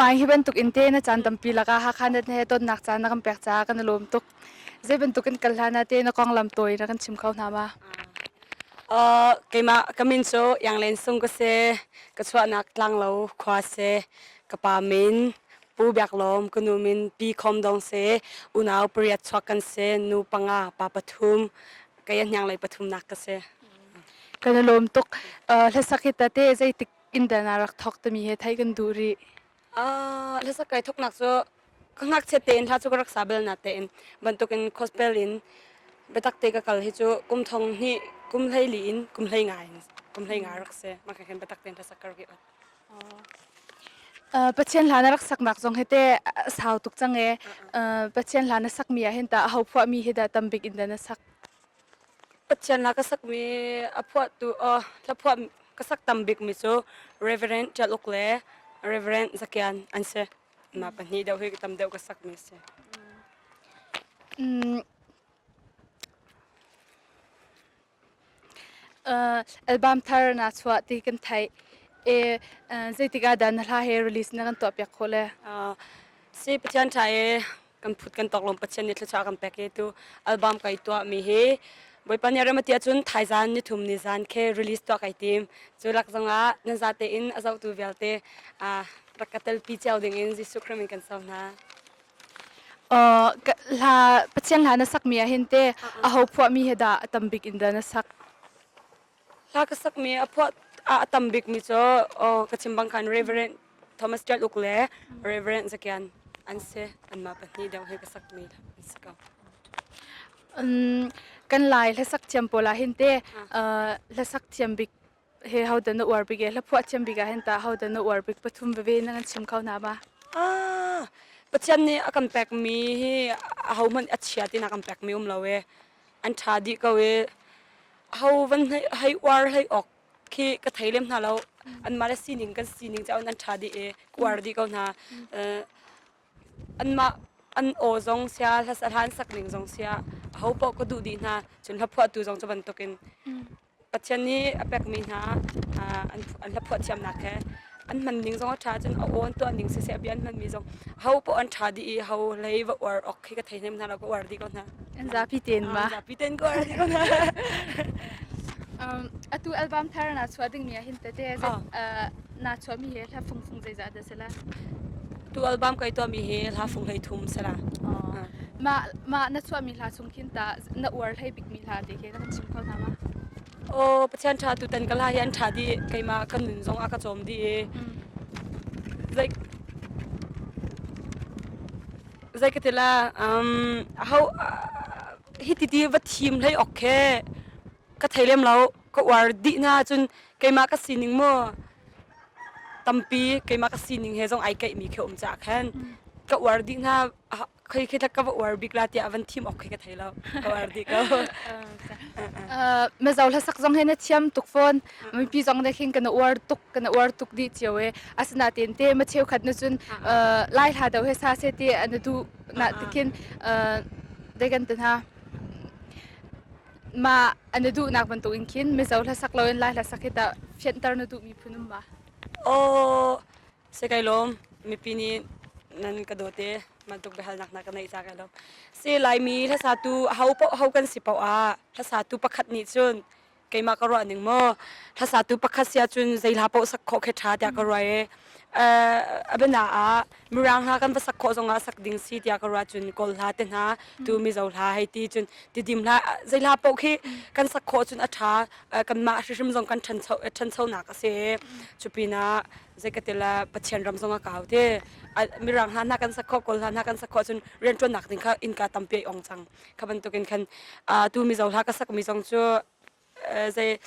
Mai hi bantuk in te na caan tampi lakah Hakha net he tonnak caan na kan pek caah kan i lawm tuk. Zei bantuk in kal hlan ah te na konglam tawi na kan chim kho hna ma? Uh, keimah ka min cu Yanglen Sung ka si. Ka chuahnak tlanglo khua si. Ka pa min Pu Biak Lawm, ka nu min Pi Khom Dong si. Unau pariat chuak kan si. Nu panga pa pathum. kaya hnyang lei pathum nak ka se ka la lom tuk hlasak hi tate zeitik in dana rak thok tami he thai kan du ri a hlasak kai thok nak so ka ngak che te in tha chu ka rak sa bel na te in bantuk in khospel in betak te ka kal hi chu kum thong ni kum hlei li in kum hlei ngai kum hlei ngai rak se ma ka hen betak te in hlasak kar ki Pathian hla na rak saknak zong hi te sau tuk cang e. Pathian hla na sakmi ah hin tah ho phuahmi hi dah tam bik in dah na sak? Pathian hla ka sakmi a phuahtu hla phuah ka sak tam bikmi cu Reverend Tial Uk le Reverend Zakian an si. Na pahnih deuh hi tam deuh ka sakmi si. album thar na chuah ti kan theih e zeitik ah dah na hla he release na kan tuah piak khawh le si pathian tha e kan phut kan tok lom pathian ni thlucha kan pek e tu album kai tuah mi hi boipa ni rema tia chun thai zan ni thum ni zan khe release tuah kai tim chu lak zong ah nan za te in azo tu vialte rak ka tel pi cheu ding in Jesu Christ in kan sau hna hla pathian hla na sakmi ahhin te a ho phuahmi he dah a tam bik in dah na sak hla ka sakmi a phuah a tam bikmi cu ka chim bang khan reverend Thomas Ṭat Uk le Reverend Zakian an si anmah pahnih deuh he ka sakmi an si ko kan lai hlasak thiam pawl ahhin te hlasak thiam bik he hodan na uar bik e hlaphuah thiam bik ah hin ta hodan na uar bik pathum veve nan an chim kho na ma ah pathian nih a kan pek mi hi a ho hmanh a chia tinak kan pek mi um lo e an tha dih ko e ho van hei uar hei ok khi ka thei lem hna lo an mah le sining kan sining chaun an tha dih e uar dih ko hna an mah an aw zong sia hlasat han sak ning zong sia ho po ka duh dih hna cun hlaphuah tu zong cu bantukin Pathian nih a pekmi hna an la phuah thiamnak he an hman ning zong a ṭha ahcun a awn tuah ning siseh a bia an hmanmi zong ho poh an ṭha dih i ho hlei va uar awk khi ka thei hnem hna lo ka uar dih ko hna. An zapi tein ma? An zapi tein ka uar dih ko hna. Um, atu album thar na chuah dingmi ah hin tete naa chuahmi he hla fungfung zeizah dah sela tu album kai to mi he hla fung hlei thum sela mah mah na chuah mi hla chung khin ta na uar hlei bik mi hla te khe kan chim kho na ma o pathian tha tu tan ka hla hi an tha di keima ka nun zong a ka chom di like zai ka tela um hau hi ti ti va thim hlei ok khe ka thailem lo ka war di na chun keima ka sining mo tampi keimah ka sining he zong ai keihmi khi um caah khan ka uar dih hna khei khi ka va uar bik la tiah van thim awk khi ka thei lo ka uar dih ko mazo hlasak zong he na thiam tuk phone mipi zong ne khin kana uar tuk kana uar tuk di cio e asana ten te ma cheu khat na cun lai hla do he sa se te ana du na tikin dai kan tana mah na duhnak bantukin khin mizo hlasak loin lai hlasak hi tah fianter na duhmi phun um ma aw se kai lom mipi nih nan ka dawte man tuk behal nak na ka nei ta kai lom se laimi hlasa tu hau po hau kan si po a hlasa tu pakhat ni chun keima ka ruah ning mo hlasa tu pakhat sia chun zeila po sak kho khe tha ta ka ruai e abena a Mirang hna kan va sak khawh zongah sak ding si tiah ka ruah cun Kawl hla te hna tu Mizo hla hei ti cun tidim hla zei hla poh khi kan sak khawh cun a tha kan mah hrim zong kan thancho thancho nak a si cu pinah zei ka tila Pathian ram zong a kau te Mirang hna hna kan sak khawh Kawl hla hna kan sak khawh cun rian tuan nak ding kha in ka tampe ong cang ka bantukin khan tu Mizo hla ka sak mi zong cu zei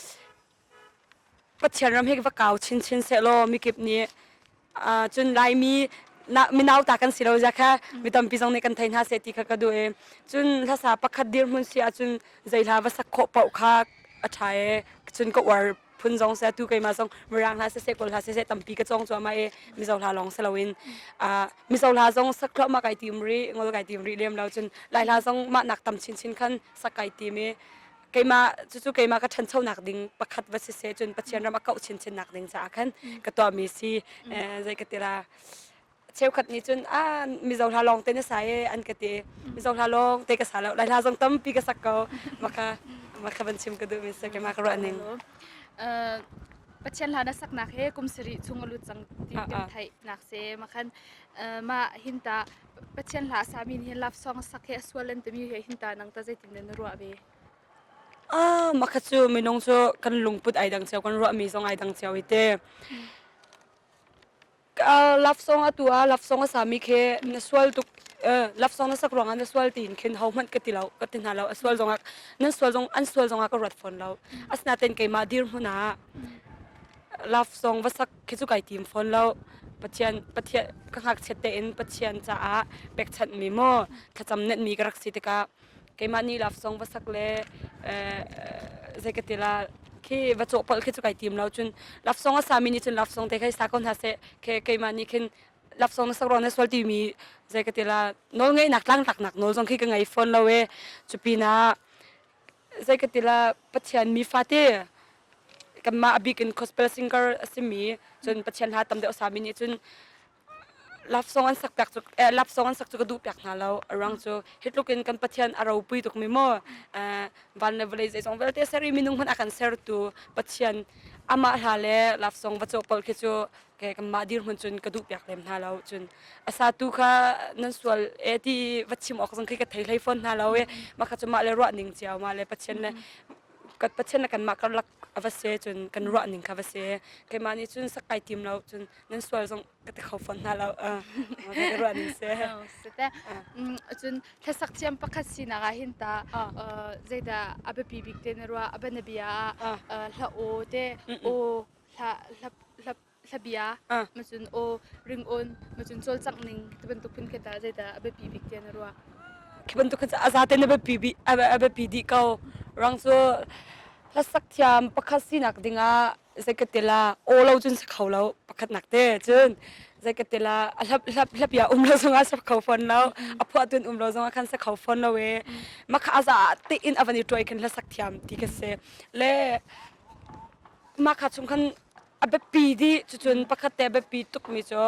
Pathian ram hi va kau chinchin sehlaw mikip nih cun Laimi minau ta kan si lo zia kha mi tampi zong nih kan thei hna se ti kha ka duh i cun hlasa pakhat dirhmun si ahcun zeihla va sak khawh paoh kha a ṭha e cun ka uar phun zong se tu keimah zong mirang hla sese kawl hla sese tampi ka cawng cuahmah i mizo hla lawng si loin mizo hla zong sak thluahmah kai tim rih ngol kai tim rih lem lo cun lai hla zong mah nak tam chinchin khan sak kai tim i keimah cucu keimah ka ṭhanchonak ding pakhat va si se cun Pathian ram a kauh chinchinnak ding caah khan ka tuahmi si eh, zei ka tira cheukhat nih cun a mizo hla lawng te na sa e an ka te mizo hla lawng te ka sa lo lai hla zong tampi ka sak ko maka maka van chim ka duh mi se keimah ka ruahning uh, Pathian hla na saknak he kum sari chung a lut cang ti kan thai nak se makhan uh, ma hinta Pathian hla a sami nih hin love song a sak hi a sual an timi he hin ta nang ta zeitin dah na ruah ve? Ah, makha cu minung cu kan lungput ai dang cio, kan ruahmi zong ai dang cio i te. love song atu a love song a sami khi na sual tuk love song na sak ruangah na sual tiin khin hohmanh ka ti lo ka ti hna lo a sual zongah nan sual zong an sual zongah ka ruat fawn lo asinaten keimah dir hmun ah love song va sak khi cu kai tim fawn lo pathian pathian ka ngakchiat tein pathian caah pekchanh mi maw thlacam net mi ka rak si tikah keimah ni laf song va sak le zeikatila khi va cawh pal khi cu kai tim lo cun lafsong a sami nih cun lafsong te khai sa ko hna se ke keimah nih khin lafsong na sakron na sual ti mi zeikatila nawl ngei nak tlangtlak nak nawl zong khi ka ngei fawn lo e cupina zei ka tila pathian mi fate kanmah abik in gospel singer asimi cun pathian ha tam deuh sami nih cun love song an sak piak cu eh, love song an sak cu ka duh piak hna lo arang cu hitlukin kan pathian a ropui tuk mi mo eh, van le vawlei zeizong vialte seri minung hman akan ser tu pathian ama hla le love song va cawk pol khi cu ke kanmah dirhmun cun ka duh piak lem hna lo cun asa tu kha nan sual e ti va chim awk zang khi ka thei hlei fawn hna lo e ma kha cumah le ruah ning cia ma le pathian le kan pathian le kanmah karlak ava se cun kan ruah ning kha va se keimah nih cun sakai tim lo cun nan sual zong ka te kho fawn hna lo ka ruah ning se cun thlasak thiam pakhat sinak ah hin ta zeida abapi bik te na ruah abana bia hla o te o Hla-bia macun aw, ringawn macun cawlcangh ning ti bantuk phun khi tah zeidah a biapi bik tiah na ruah? Khi bantuk khin a zate na biapi dih ko. Rang cu hlasak thiam pakhat sinak dingah zeikatil ah aw lo cun si kho lo pakhatnak te. Cun zeikatil ah hlapia um lo zongah si kho fawn lo. A phuahtun um lo zongah khan si kho fawn lo i. Makha a za ah tiin a van i ṭuai khin hlasak thiam ti khi si. Le Mahka chung khan a biapi di cucun pakhat te a biapi tukmi cu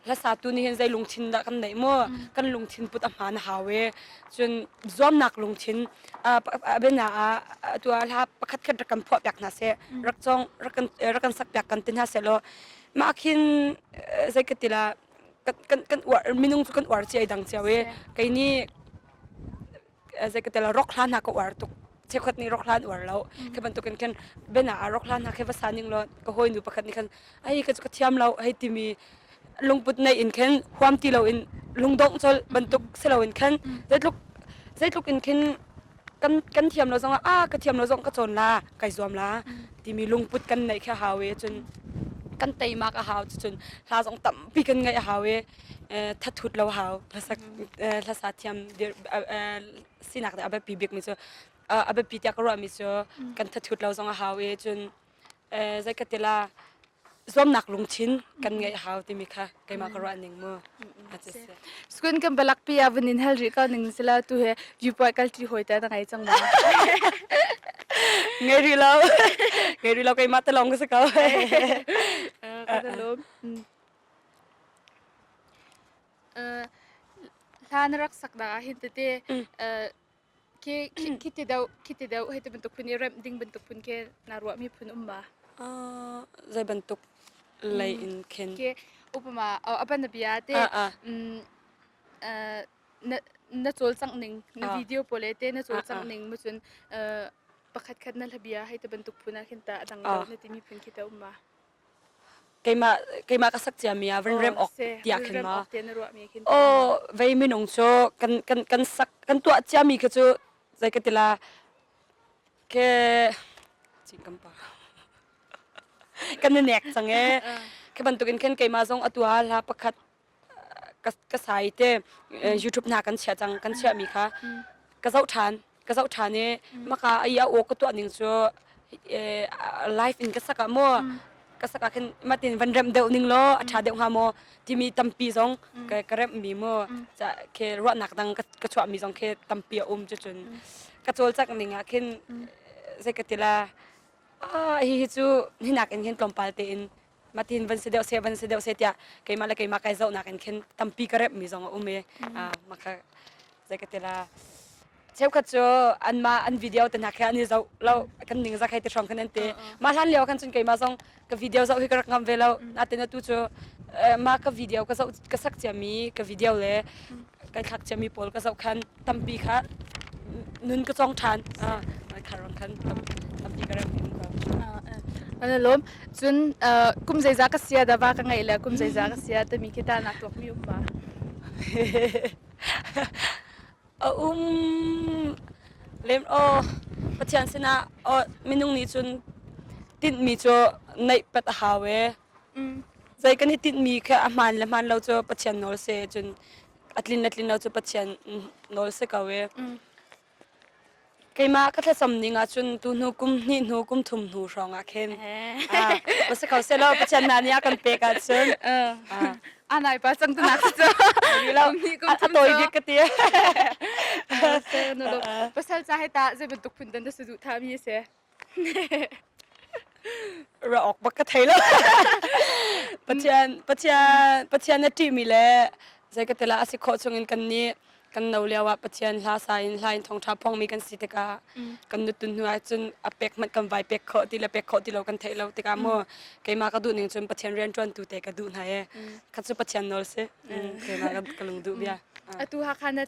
hlasatu nih hin zei lungthin dah kan neih mu kan lungthin put a hmaan a hau i cun zuamnak lungthin a biana ah atu ah hla pakhat khat rak kan phuah piak hna seh rak cong rak kan rak kan sak piak kan ti hna seh law mah khin zei ka tila kan kan uar minung cu kan uar cia i dang cio i kei nih zeikatela rok hla hna ka uar tuk chekhot nih rok hla an uar lo khi bantukin khin bena a rok hla hna khi va sa ning law ka hoi nu pakhat nih khan ai ka ka thiam lo hei timi lungput nei in khin huam ti loin lungdong chol bantuk si loin khan zeitluk zeitluk in khin kan kan thiam lo zong a ka thiam lo zong ka chon la kai zuam la timi lungput kan nei kha hawe cun kan teimak a hau cun hla zong tampi kan ngaih a hau e thathut lo hau hlasak hlasa thiam sinak a biapi bikmi cu a biapi tiah ka ruahmi cu kan thathut lo zong a hau i cun zeikatila zuamnak lungthin kan ngeih hau timi kha keimah ka ruah ning mu skun kan balak pi avun in hel ri ka ning sila tu he viewpoint kal ti hoi ta na ngai chang ma ngai ri lo ngai ri lo keimah ta long ka sa kau ka lo hla na rak sak na ahhin tete khi ti deuh hei ti bantuk phun i remh ding bantuk phun ke naa ruahmi phun um ma? Zei bantuk lei in khin? Ke upama aban na bia te na cawlcangh ning na video pole te na cawlcangh ning macun pakhat khat na labia hei ti bantuk phun ahhin ta a dang deuh na timi phun khi ta um ma? keimah keimah ka sak ciami ah van rem awk tiah khin ma o vei minung cu kan kan kan sak kan tuah ciami kha cu zei ka tila ke cingkam pa kan nek change ke bantukin khen keima zong atu ha hla pakhat ka sai te youtube na kan chia cang kan chia mi kha ka zoh ṭhan ka zoh ṭhan i maka ai a aw ka tuah ning cu live in ka sak ah maw ka sak ah khin matin van rem deuh ning law a ṭha deuh hnga maw timi tampi zong ka rem mi mu ca khe ruahnak dang ka chuah mi zong khe tampi a um cu cun ka col chak ning ah khin zei ka tila a hi hi cu hinak in hin tlawmpal te in matin van si deuh se van si deuh se tiah keimah le keimah kai zohnak in khin tampi ka remmi zong a um i makha zei ka tila cheukhat cu anmah an video te hna khi an i zoh lo kan ning za khai te hrawng khan an te ma hlan leo khan cun keimah zong ka video zoh hi ka rak ngam ve lo natin atu cu ma ka video ka zoh ka sak ciami ka video le kai thlak ciami pawl ka zoh khan tampi kha nun ka cong ṭhan khar rang khan tampi ka rem in an lawm cun kum zeiza ka sia da va ka ngeih le kum zeiza ka sia timi khi ta nak tuakmi um va a um lem aw pathian sinah minung nih cun tinhmi cu neih pat a hau e Zei kan i tinhmi kha a hmaan le hmaan lo cu Pathian nawl si ahcun a tlin le tlin lo cu Pathian nawl si ko i keimah ka thlacam ning ahcun tu hnu kum hnih hnu kum thum hnu hrawngah khin va si ko sehlaw Pathian hna nih a kan pek ahcun a nai pa cang tunak cu lo ni kum thum tawi bik ka ti pasal ca hai ta zei bantuk phun dan da su duh thami se ra awk bak ka thei lo pathian pathian pathian na ṭihmi le zeikatila a si khawh chungin kan nih kan no lio ah pathian hla sa in hla in thongṭha phongmi kan si tikah kan nutun hnu ah cun a pek hmanh kan vai pek khawh ti le pek khawh ti lo kan theih lo tikah mu keimah ka duh ning cun pathian rian ṭuan tu te ka duh hna e kha cu pathian nawl si keimah ka ka lung duh bia atu hakha na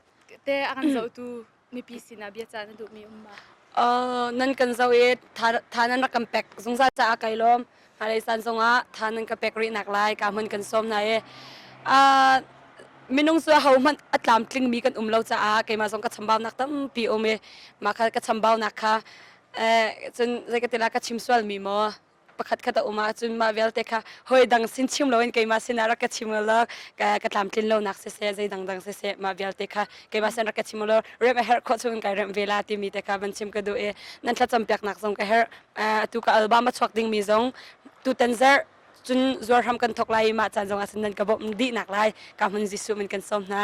te a kan zohtu mipi sinah biacah na duhmi um ma? Uh, nan kan zoh i tha nan rak kan pek zungzal caah kai lawm hnalei san zongah tha nan ka pek rihnak lai ka hman kan sawm na i uh, minung cu ho hmanh a tlamtling mi kan um lo caah keimah zong ka chambaunak tampi um i mah ka chambaunak kha eh, cun zeikatila ka chim sual mi maw pakhatkhat a um ahcun mah vialte kha hoi dang sin chim loin keimah sinah rak ka chim law ka ka tlamtlin lonak siseh zei dangdang siseh mah vialte kha keimah sin rak ka chim law remh a herh khawh chungin kai remh ve la timi te kha van chim ka duh i nan thlacam piaknak zong ka herh atu ka album a chuak dingmi zong tutan zarh cun zuar ham kan thok lai ma chan zong asin nan ka bom di nak lai ka mun jisu min kan som na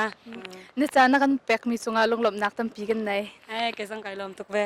na cha na kan pek mi sunga lunglom nak tampi kan nei ai ke zang kai lom tuk ve